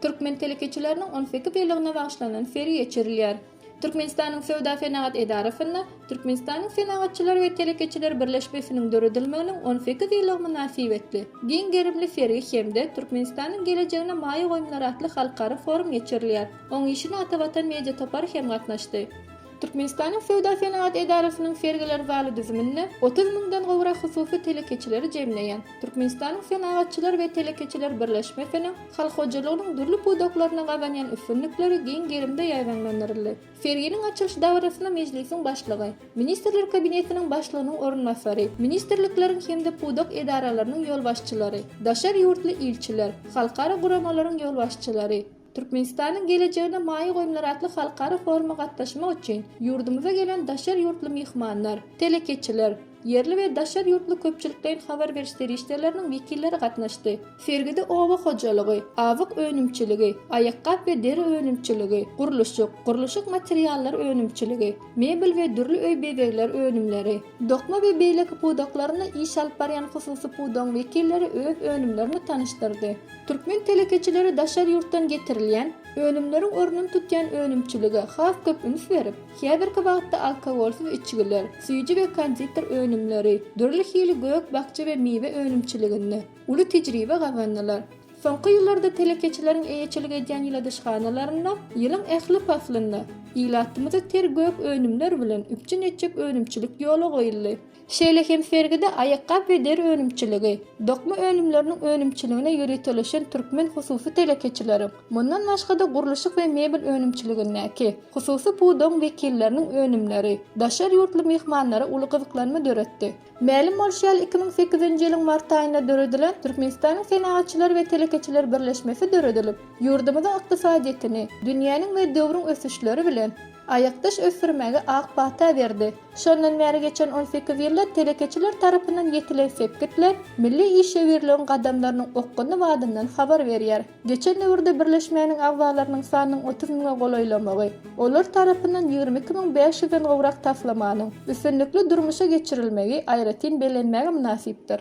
Türkmen telekeçileriniň on sekiz ýyllygyna bagyşlanan sergi geçirilýär. Türkmenistanyň Söwda-senagat edarasynda Türkmenistanyň Senagatçylar we telekeçiler birleşmesiniň döredilmeginiň on sekiz ýyllygy mynasybetli, giň gerimli sergi hem-de Türkmenistanyň gelejegine maýa goýumlar atly halkara forum geçirilýär. Oň işine Atavatan media topary hem gatnaşdy. Türkmenistanyň Söwda-senagat edarasynyň sergiler zaly düzüminde otuz müňden gowrak hususy telekeçileri jemleýän Türkmenistanyň Senagatçylar we telekeçiler birleşmesiniň halk hojalygynyň dürli pudaklarynda gazanýan üstünlikleri giň gerimde ýaýbaňlandyryldy. Serginiň açylyş dabarasyna Mejlisiň Başlygy, Ministrler Kabinetiniň Başlygynyň orunbasary, ministrlikleriň hem-de pudak edaralarynyň ýolbaşçylary, daşary ýurtly ilçiler, halkara guramalaryň ýolbaşçylary, Türkmenistanyň gelejegine maýa goýumlary atly halkara foruma gatnaşmak üçin ýurdumyza gelen daşary ýurtly myhmanlar, telekeçiler, ýerli we daşary ýurtly köpçülikleýin habar beriş serişdeleriniň wekilleri gatnaşdy. Sergide oba hojalygy, azyk önümçiligi, aýakgap we deri önümçiligi, gurluşyk, gurluşyk materiallary önümçiligi, mebel we dürli öý bezegleri önümleri, dokma we beýleki pudaklarynda iş alyp barýan hususy pudagyň wekilleri öz önümlerini tanyşdyrdy. Türkmen telekeçileri daşary ýurtdan getirilýän önümleriň ornuny tutýan önümçilige has köp üns berip, häzirki wagtda alkogolsyz içgiler, süýji we konditer önümleri, dürli hili gök-bakja we miwe önümçiliginde uly tejribe gazandylar. Soňky ýyllarda telekeçileriň eýeçilik edýän ýyladyşhanalarynda ýylyň ähli paslynda ilatymyzy ter gök önümler bilen üpjün etjek önümçilik ýola goýuldy. Şeýle hem sergide aýakgap we deri önümçiligi, dokma önümleriniň önümçiligine ýöriteleşen türkmen hususy telekeçileri, mundan başga-da gurluşyk we mebel önümçiligindäki hususy pudagyň wekilleriniň önümleri daşary ýurtly myhmanlara uly gyzyklanma döretdi. Mälim bolşy ýaly, iki müň sekizinji ýylyň mart aýynda döredilen Türkmenistanyň Senagatçylar we telekeçiler birleşmesi döredilip, ýurdumyzyň ykdysadyýetini dünýäniň we döwrüň ösüşleri bilen aýakdaş ösdürmäge ak pata berdi. Şondan bäri geçen on sekiz ýylda telekeçiler tarapyndan ýetilen sepgitler milli işewürligiň gadamlarynyň okgunly badyndan habar berýär. Geçen döwürde birleşmäniň agzalarynyň sanynyň otuz müňe golaýlamagy, olar tarapyndan ýigrimi iki müň bäş ýüzden gowrak taslamanyň üstünlikli durmuşa geçirilmegi aýratyn bellenmäge mynasypdyr.